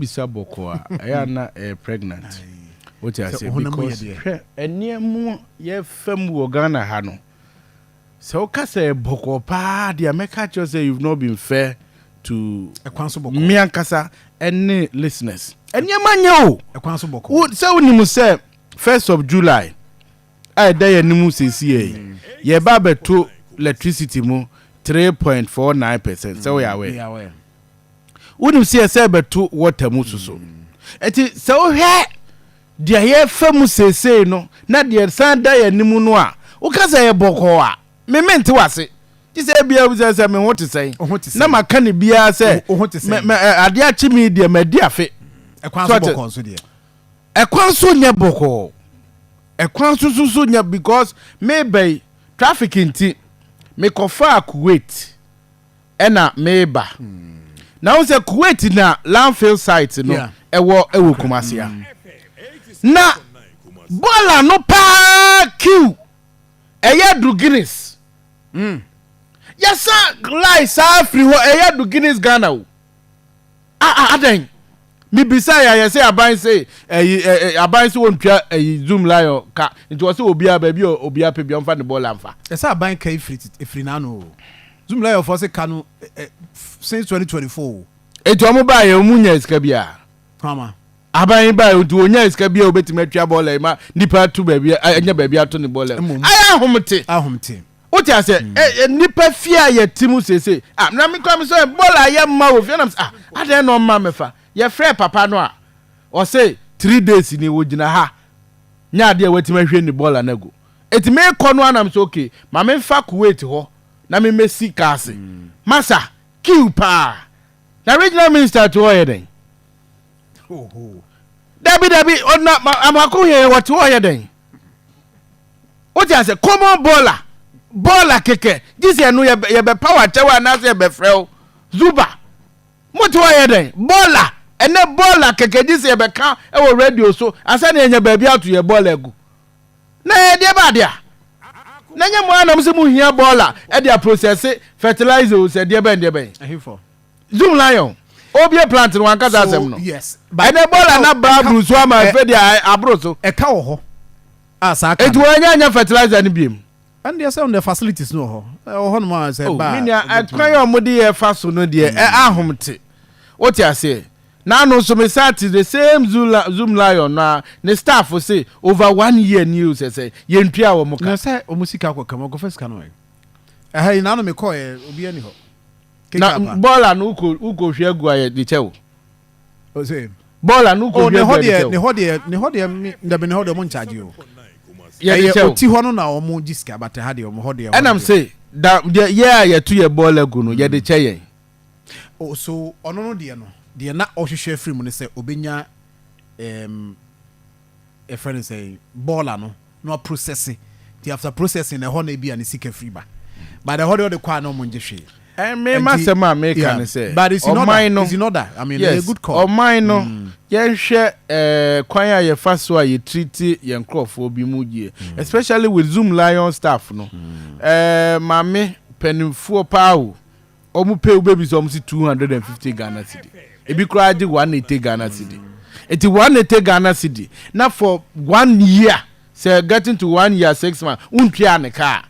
bisa bɔkɔɔ a ɛyɛ a na ɛyɛ pregnant wote aseɛ because hwɛ ɛneɛ mu yɛ fɛ mu wɔ Ghana ha no sɛ woka sɛ ɛyɛ bɔkɔɔ paa deɛ mɛka kyerɛ sɛ you've not been fair to me ankasa ɛne listeners ɛneɛ ma nyɛ o sɛ wonim sɛ first of July a ɛda yɛ anim sɛsi yɛ yɛba bɛto electricity mu 3.49 percent sɛ woyɛ awɛ Wonim sɛ yɛsɛ bɛto wɔta mu so so. Nti sɛ wohwɛ deɛ yɛfa mu seesei no na deɛ san da yɛn anim no a, woka sɛ ɛyɛ bɔkɔɔ a, me mente w'ase. Gye sɛ ebia wobisa sɛ me ho te sɛn? Na maka no biara sɛ adeɛ akye me deɛ madi afe. Ɛkwan so bɔkɔɔ nso deɛ? Ɛkwan so nyɛ bɔkɔɔ. Ɛkwan so nso so nyɛ because meba yi traffic nti mekɔfaa Kuwait. ɛna meba na wo sɛ Kuwait na landfill site no ɛwɔ ɛwɔ Kumasi a na bɔɔl ano paa kiw ɛyɛ do Guinness hmm. yɛsa lai saa firi hɔ ɛyɛ do Guinness Ghana o. A a adɛn? Mebisa yɛ ayɛ sɛ aban se ɛyi ɛ ɛ aban se wɔntwa ɛyi zoom lion ka nti wɔse obiara baabi a obiara pɛ bia ɔmfa ne bɔɔla mfa. Ɛsɛ aban ka yi firi ɛfiri n'ano oo. Zoom lion foɔ se ka no ɛ since 2024 oo. Nti wɔn baeɛ wɔn nyaa sika biara? Hwama. Aban yi baeɛ nti wɔnyaa sika biara wɔbɛtumi atwa bɔɔla yi ma nipa ato baabi anya baabi ato ne bɔɔla yi? Mmom. Ayɛ ahomte. Ahomte. O te ase, ɛ, ɛ, nipa fie a yɛ te mu sese. Ah, na me kura me sɛ bɔɔl a yɛ mma wɔ fie, nam sɛ, ah, adɛn na ɔmma me fa. Yɛ frɛ papa no a, ɔse, three days ni, wɔ gyina ha, nyɛ adeɛ a watumi ahwie ne bɔɔl no agu. Eti me kɔ no a nam sɛ, okay, ma me nfa Kuwait hɔ, na me mɛ si kaa ase. Masa, queue paa. Na regional minister te hɔ yɛ dɛn? Dabi, dabi, ɔna, ma, amako hɛn, ɔte hɔ yɛ dɛn? Wote ase? Common baller. Baller kɛkɛ. Gye sɛ ɛno yɛbɛpaw akyɛw anaasɛ yɛbɛfrɛ wo Zuba. Mote hɔ yɛ dɛn? Baller. Ɛnɛ baller kɛkɛ gye sɛ yɛbɛka wɔ radio so ansa na yɛanya baabi ato yɛn baller agu. Na ɛyɛ deɛ ɛba ade a. Na ɛnyɛ mo ara na mose mohia baller de aprosɛse fertilizer o, sɛ deɛ bɛn deɛ bɛn. Zoom Lion, ɔrebue plant no wankasa asɛm no. Ɛnɛ baller no abra aburu so ama afei deɛ aboro so. Ɛka wɔ hɔ. a saa ka no. Enti wɔanya anya fertilizer no biom. Ɛno deɛ sɛ ɔndeɛ facilities no wɔ hɔ ɛwɔ hɔ nom a sɛ ɛba a. Oh me nua ɛkwan a wɔde yɛ fa so no deɛ ɛ ahom te wote aseɛ na ano nso me san te the same zoom zoom lion no a ne staff se over one year ni o sɛ sɛ yɛntua wɔn ka. Na sɛ wɔn sika akɔ kam wɔkɔ fa sika no ɛ ɛha yi na ano me kɔɔ yɛ obi ani hɔ. Na bɔɔla no wokɔ wokɔ hwɛ agu ayɛ de kyɛ wo. ɔsɛ bɔɔl a no kɔ hwɛ bɛn deɛ ne hɔ deɛ ne hɔ deɛ mi ndabi ne hɔ deɛ ɔmo nkyagye o ɛyɛ oti hɔ no na ɔmo gye sika bata ha deɛ ɔmo hɔ deɛ ɛnam se da deɛ yɛ a yɛto yɛ bɔɔl agu no yɛde kyɛ yɛn o so ɔno no deɛ no deɛ na ɔhwehwɛ firi mu ne sɛ obenya ɛɛm yɛfrɛ no sɛn bɔɔla no na waprosɛse nti after processing na ɛhɔ na ebi a ne sika firi ba but ɛhɔ deɛ ɔde kɔ a na ɔmo ngye hwee. Ɛmee ma sɛm a meka ne sɛ ɔman no yes ɔman no yɛnhwɛ kwan a yɛfa so a yɛ treati yɛn nkorɔfoɔ bi mu yie especially with zoom lion staff no ɛɛ mame panyinfoɔ paa o Ɔmo pɛ wobɛbisa ɔmo se two hundred and fifty Ghana cedi ebi koraa gye one eighty Ghana cedi eti one eighty Ghana cedi na for one year sɛ getting to one year six months wontuaa ne kaa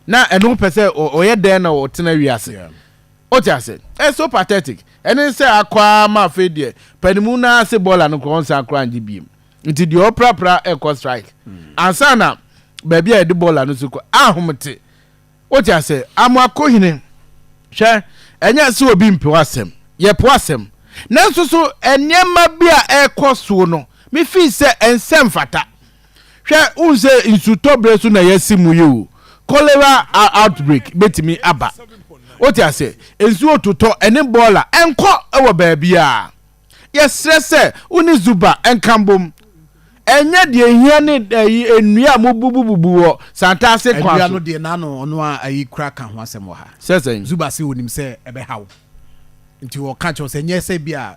na ɛno wopɛ sɛ ɔyɛ dɛn na ɔtena wiase wote ase ɛyɛ so pathetic ɛne sɛ akɔ ara ma afei deɛ panimu no ara se bɔɔla no koraa ɔnsan koraa ngye biem nti deɛ ɔprapra ɛkɔ strike ansa na baabi a yɛde bɔɔla no so kɔ ahomete Wote ase? Amoako hene. Hwɛ, ɛnyɛ sɛ obi mpew asɛm. Yɛpew asɛm. Nanso so nneɛma bi a ɛrekɔ so no, mifi sɛ ɛnsɛ mfata. Hwɛ, wohu sɛ nsutɔbere so na yɛasi mu yi o, cholera outbreak betumi aba. Wote ase? Nsuo totɔ, ɛne bɔɔla, ɛnkɔ wɔ baabiara. Yɛsrɛ sɛ wo ne Zuba nka mbom. Ɛnyɛ deɛ ehia ne ayi nnua a mobubububu wɔ Santase kwan so. Nnua no deɛ n'ano ɔno ara ayi koraa ka ho asɛm wɔ ha. Sɛ sɛn? Zuba se onim sɛ ɛbɛha wo nti ɔka kyerɛ wo sɛ ɛnyɛ sɛ ebia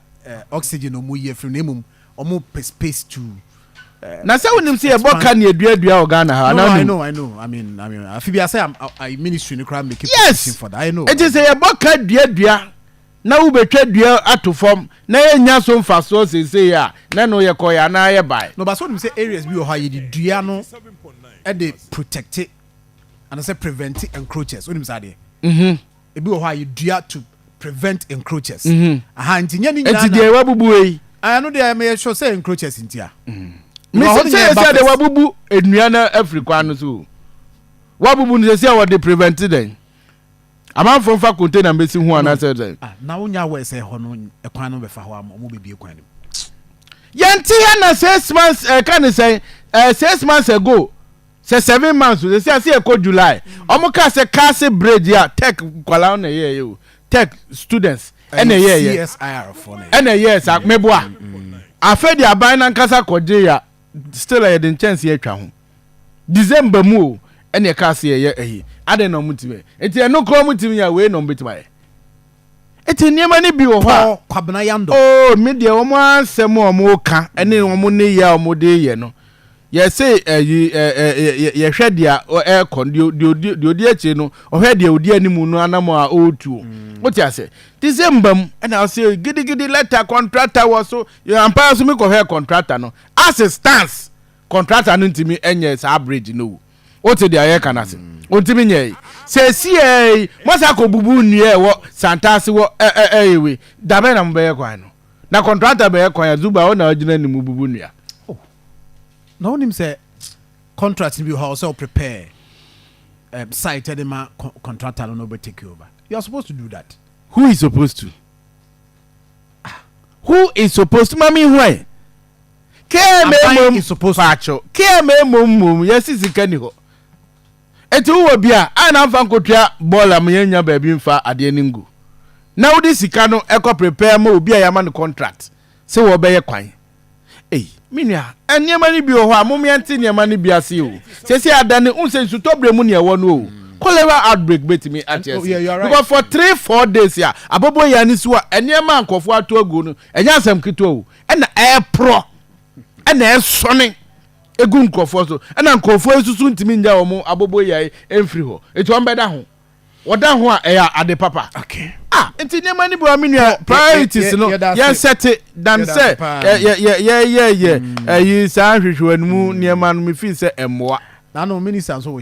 oxygen na wɔyi afiri mu na mmom wɔpɛ space to expand. Na sɛ wonim sɛ yɛbɔ ka ne aduadua wɔ Ghana ha anaa wonim? No, I know, I know. I mean, afi bi a sɛ ministry no koraa make a provision for that. I know. Yes! Enti sɛ yɛbɔ ka duadua. na wobɛtwa dua ato fam na yɛnnya so mfasoɔ seesei a, na ɛno yɛkɔeɛ anaa yɛbaeɛ. Na ɔbaa sɛ wonim sɛ areas bi wɔ hɔ a yɛde dua no de protecte anasɛ prevente encroachers wonim saa adeɛ? Mhm. Ebi wɔ hɔ a yɛdua to prevent encroachers Mhm. aha nti nyɛ ne nyinaa Enti na deɛ wabubu wei yi. Ah, ɛno deɛ meyɛ sure sɛ encroachers nti a Mhm. Ɛwɔ Me hɔ no sɛ nyɛ ɛba sɛ deɛ first. wabubu nnua no afiri kwan no so o. Wabubu no sɛsi a wɔde prevente dɛn? Amanfoɔ nfa container mbɛsi ho anaasɛ sɛ. Ah, na wonya aware sɛ ɛhɔ no ɛkwan no bɛfa hɔ ama ɔmo bɛbie kwan no mu. Yɛnte ha na six months ɛka eh, ne sɛ ɛɛ eh, six months ago sɛ seven months o sɛ ase ɛkɔ July ɔmo kaa sɛ kaase bridge a tech kwalaa ɔna ɛyɛ ɛyɛ o tech students ɛna ɛyɛ ɛyɛ ɛna ɛyɛ ɛsa meboa afɛ de aban nankasa kɔgye ya. Still yɛde nkyɛnsee atwa ho. December mu o ɛna ɛkaa se yɛyɛ ɛyi. Adɛn na ɔmo tumi yɛ? Nti ɛno koraa ɔmo tumi yɛ a wei na ɔmo bɛtumi ayɛ? Nti nneɛma no bi wɔ hɔ a. Paa Kwabena Yandom. Oh me deɛ ɔmo asɛm a ɔmo ka ɛne ɔmo nneyɛɛ a ɔmo de yɛ no yɛse ɛyi ɛɛ yɛhwɛ deɛ ɛɛkɔ no deɛ odi deɛ odi akyire no ɔhwɛ deɛ odi animu no anamɔ a ɔɔtu o. Wote aseɛ? December mu ɛna ɔse gidigidi letter contractor wɔ so Yɛ ampa ara nso me kɔ hwɛɛ contractor no as it stands contractor no ntumi nyɛ saa bridge no o wo te deɛ yɛka no ase ɔntumi nyɛɛ yi sɛsiaa yi moasa kɔ bubu nnua ɛwɔ santase wɔ ɛɛ wei da bɛn na mo bɛyɛ kwan no na contractor bɛyɛ kwan a zuba wo na ɔgyina ne mu bubu nnua. Oh na wonim sɛ contract bi hɔ sɛ wo prepare um, site de ma contractor no na ɔbɛ take over you are supposed to do that. Who is supposed to? Who is supposed to mami hwan? KMA Aban mom is supposed to. paakyɛw KMA mom mom yɛsi sika ni hɔ eti wowɔ bi a a na nfa nkotua bɔɔl a yɛn nya baabi nfa adeɛ no ngu na wode sika no ɛkɔ prepare ma obi a yɛama no contract sɛ wɔbɛyɛ kwan. Ei, me nua, nneɛma no bi wɔ hɔ a mom yɛnte nneɛma no bi ase o. Seesei adane, wohu sɛ nsutɔberɛ mu na yɛwɔ no o. Cholera outbreak bɛtumi ate ase. Because for three, four days a, abɔbɔ yɛ ani so a, nneɛma a nkurɔfoɔ ato agu no, ɛnyɛ asɛm ketewa o. Ɛna ɛreporɔ, ɛna ɛresɔne gu nkurɔfoɔ so. Ɛna nkurɔfoɔ nso so ntumi nnya wɔn abɔbɔ yɛ mfiri hɔ. Nti wɔbɛda ho. wɔda ho a ɛyɛ ade papa ah nti nneɛma no bi wa me nua priorities no yɛnsɛte dan sɛ yɛyɛ yɛ ɛyi saa hwehwɛ no mu nneɛma no mefii sɛ ɛmmoa na no minister nso wɔ